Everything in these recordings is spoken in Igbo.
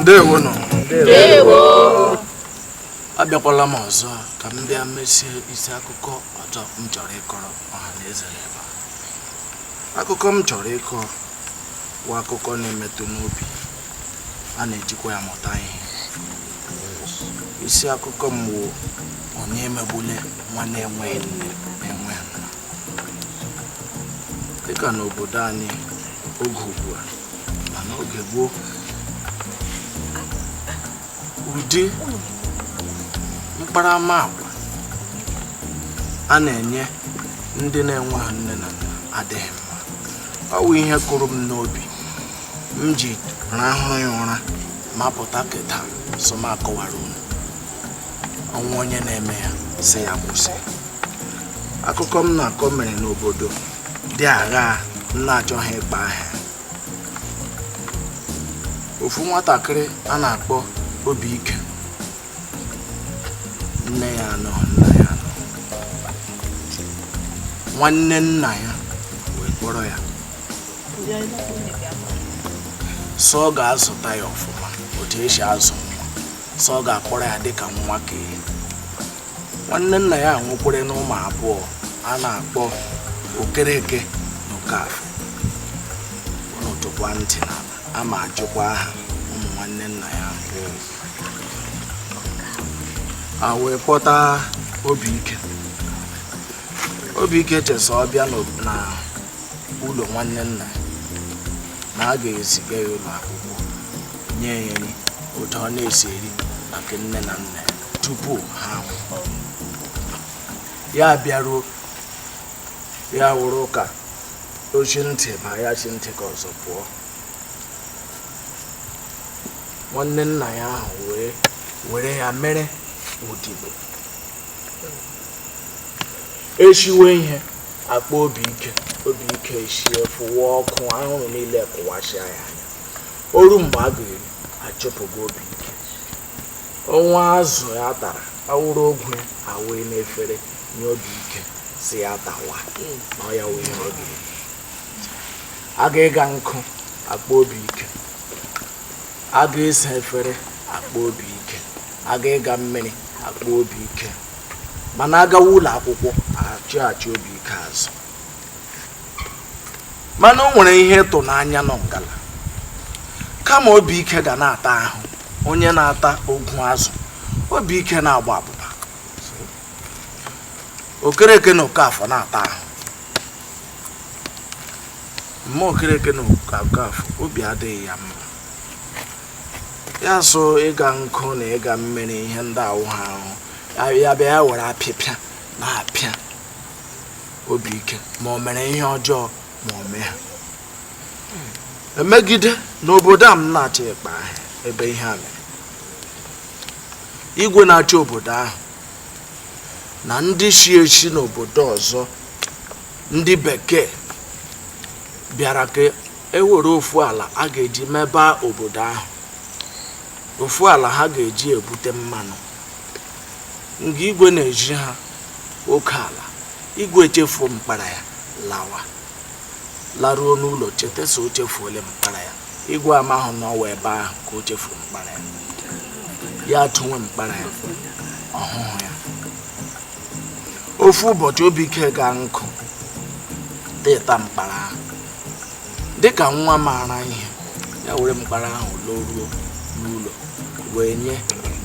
ndewo nụ abịakwala m ọzọ ka m bịa mesie isi akụkọ ọzọ m chọrọ ịkọrọ ọha na eze n'ebe a. akụkọ m chọrọ ịkọ bụ akụkọ na-emetụ n'obi a na-ejikwa ya mụta ihe isi akụkọ m wụ onye emegbule nwa na-enweghị nne na-enweghị nna dịka n'obodo anyị oge ugbu a ma n'oge gboo ụdị mkparamagwa a na-enye ndị na-enweghị nne na nna adịghị mma ọ bụ ihe kụrụ m n'obi m ji rahụ ya ụra ma pụta kịta so m akọwara unu o nwee onye na-eme ya sị ya kwụsị akụkọ m na-akọ mere n'obodo dị agha m na-achọghị ịkpọ aha ya ofu nwatakịrị a na-akpọ obi ike nne ya anọ nna ya anọ nwanne nna ya wee kpọrọ ya sị ọ ga-azụta ya ọfụma otu e si azụ sị ọ ga-akpọrọ ya dịka nwa ka nwanne nna ya nwekwara nụ ụmụ abụọ a na-akpọ okereke na okafọ unu tọkwa ntị n'ala a ma ajụkwa aha ụmụ nwanne nna ya a wee kpọta obi ike obi ike chee sị ọ bịa na ụlọ nwanne nna na a ga-eziga ya ụlọ akwụkwọ nye ya nri ụdị ọ na-esi eri na nke nne na nna tupu ha ya bịaruo ya wụrụ ụka ochi ntị ma ya chi ntị ka ọzọ pụọ nwanne nna ya ahụ wee were ya mere odibo e siwe ihe a kpọọ obi ike obi ike echie fụwa ọkụ anwụrụ niile kụwasịa ya o ruo mgbe a ga-eri a chụpụga obi ike o nwee azụ ya tara awụrụ ogwu ya awee n'efere nye obi ike sị ya tawa na ọ ya wee obi a ga-ịga nkụ a kpọọ obi ike a ga-esa efere a kpọọ obi ike a ga-ịga mmiri a kpọọ obi ike mana a gawa ụlọ akwụkwọ achị achị obi ike azụ mana o nwere ihe ịtụnanya nọ ngala kama obi ike ga na-ata ahụ onye na-ata ogwu azụ obi ike na-agba abụba okereke na okafọ na-ata ahụ mma okereke na okafọ obi adịghị ya mma ya so ịga nkụ na ịga mmiri ihe ndị a wụ ha ahụ ya bịa ya were apịpịa na-apịa obi ike ma o mere ihe ọjọọ ma o mee ha e megide n'obodo a m na-achọ ịkpa ebe ihe a mere igwe na-achị obodo ahụ na ndị si esi n'obodo ọzọ ndị bekee bịara ka e were ofu ala a ga-eji mebe obodo ahụ ofu ala ha ga-eji ebute mmanụ nga igwe na-ezi ha oke ala igwe echefuo mkpara ya lawa laruo n'ụlọ cheta si o chefuole mkpara ya igwe amahụ na ọ wụ ebe ahụ ka o chefuru mkpara ya ya atụwa mkpara ya ọ hụhụ ya ofu ụbọchị obi ike gaa nkụ tụta mkpara ahụ dịka nwa maara ihe ya were mkpara ahụ loruo n'ụlọ wee nye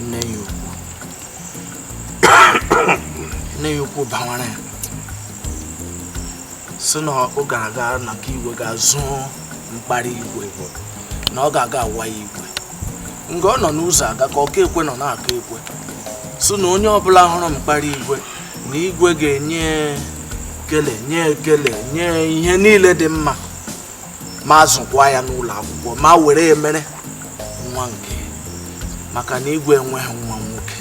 nne ya ukwu nne ya ukwu bawara ya si na ọ ga-aga na nke igwe gaa zuo mkpara igwe na ọ ga-aga agwa igwe nga ọ nọ n'ụzọ aga ka ọka ekwe nọ na-aka ekwe si na onye ọbụla hụrụ mkpara igwe na igwe ga-enye ekele nye ekele nye ihe niile dị mma ma zụkwa ya n'ụlọ akwụkwọ ma were ya mere nwa nke maka na igwe enweghị nwa nwoke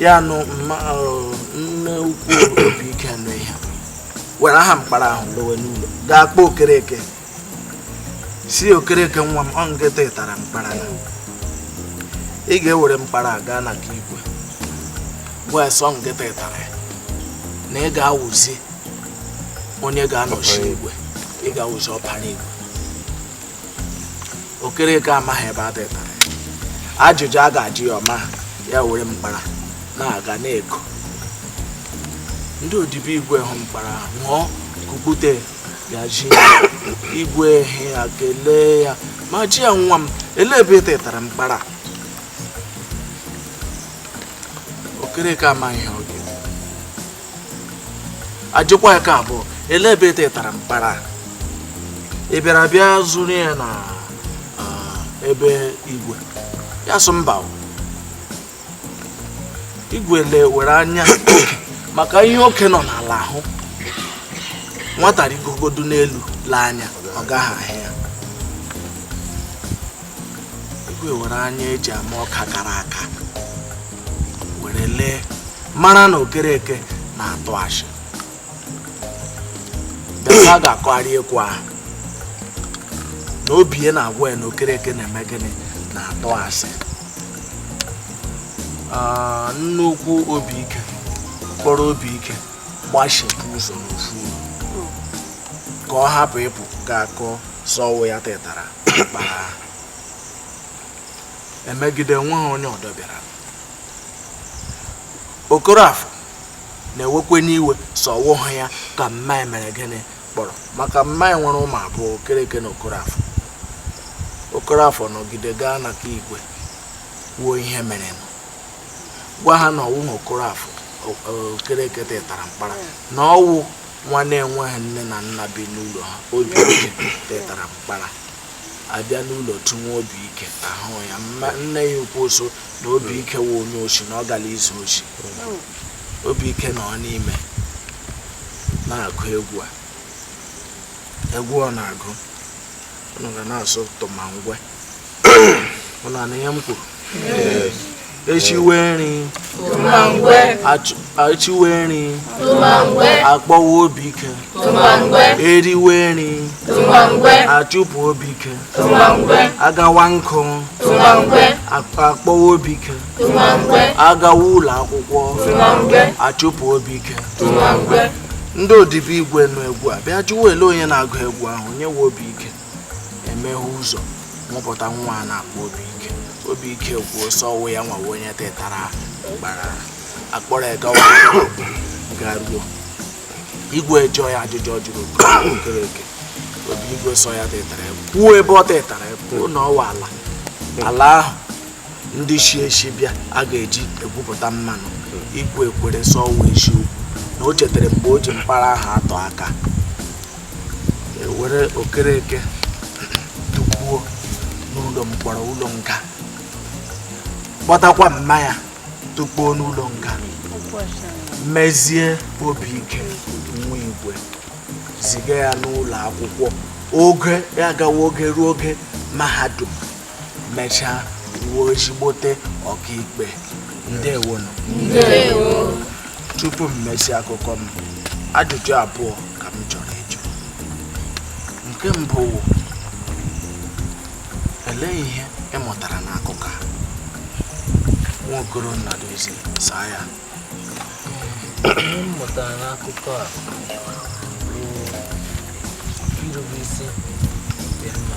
ya nụ nne ukwu obi ike nụ ihe were aha mkpara ahụ lowe n'ụlọ gaa kpọọ okereke si okereke nwa m ọ ngị tụtara mkpara na ị ga-ewere mkpara gaa na nke igwe gwa ya sị ọ ngị tụtara ya na ị ga-awụzi onye ga-anọchi igwe ị ga-awụzi ọpara igwe okereke amaghị ebe a tụtara ajụjụ a ga-ajụ ya ọma ya were mkpara na-aga na-eko ndị odibo igwe hụ mkpara ṅụọ kukpute ya ji igwe ehi ya kelee ya ma jụọ ya nwa m ele ebe ị tụtara mkpara okereke amaghị ihe ọ ga-eme ajụkwa ya nke abụọ ele ebe i tetara mkpara ị bịara bịa zuru ya na be igwe ya sụ mba igwe lewere anya maka ihe okenye nọ n'ala hụ nwata rigogodu n'elu lee anya ọ gaghị ahụ ya igwe were anya eji ama ọka kara aka were lee mara na okereke na-atụ asị a ga-akọgharị okwu ahụ na obi ya na-agwa ya na okereke na-eme gịnị na-atụ asị ah, nne ukwu obi ike kpọrọ obi ike gbachipụ ụzọ n'ofu ka ọ hapụ ịpụ ga-akọ sị ọ wụ ya tetara emegide nwa ha onye ọdọ bịara Okorafor na-ewekwanụ iwe sị ọ wụha ya ka mma ya mere gịnị kpọrọ maka mma ya nwere ụmụ abụọ okereke na Okorafor Okorafor nọgide gaa na nke igwe kwuo ihe merenụ gwa ha na ọ wụha Okorafor okereke tetara mkpara na ọ wụ nwa na-enweghị nne na nna bi n'ụlọ ha obi ike tetara mkpara a bịa n'ụlọ tụnwe obi ike ahụha ya mma nne ya ukwu sị na obi ike wụ onye oshi na ọ gara izu oshi obi ike nọ n'ime na-agụ egwu a egwu ọ na-agụ unu ga na-asụ tụmangwe unu anụ ihe m kwuru eshiwe nri eshiwe nri akpọwa obi ike eriwe nri achụpụ obi ike agawa nkụ akpọwa obi ike agawa ụlọ akwụkwọ achụpụ obi ike ndị odibo igwe nụ egwu a bịa jụwa ele onye na-agụ egwu ahụ onye wụ obi ike emeghe ụzọ wepụta nwa a na-akpọ obi ike obi ike kwuo sị ọ wụ ya nwa wụ onye tetara mkpara akpọrọ ya gawa garuo igwe jụọ ya ajụjụ ọ jụrụ okereke obi igwe sị ọ ya tetara ya kwuo ebe o tetara ya kwuo na ọ wụ ala ala ahụ ndị shi eshi bịa a ga-eji egwupụta mmanụ igwe ekwere sị ọ wụ eziokwu na o chetara mgbe o ji mkpara ahụ atụ aka e were okereke tụkpuo n'ụlọ mkpọrọ ụlọ nga kpọtakwa mma ya tụkpuo n'ụlọ nga mezie obi ike nwa igwe ziga ya n'ụlọ akwụkwọ oge ya gawa oge ruo oge mahadum mechaa wụọ ezigbote ọkaikpe ndewo nụ tupu m mesịa akụkọ m ajụjụ abụọ ka m chọrọ ịjụ nke mbụ wụ olee ihe ị mụtara n'akụkọ a Nwaokoro Nnadozie saa ya m mụtara n'akụkọ a bụ irube isi dị mma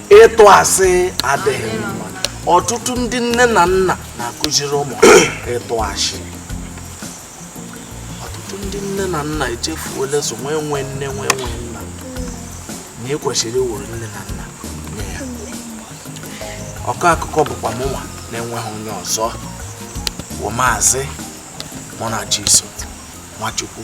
ịtụ asị adịghị mma ọtụtụ ndị nne na nna na-akụziri ụmụ ha ịtụ asị ọtụtụ ndị nne na nna echefuola sị nwa enwe nne nwa enwe nna na e kwesịrị ịwụrụ nne na nna nye ya ọkọ akụkọ bụkwa mụnwa na-enweghị onye ọzọ wụ Maazị Munachiso Nwachukwu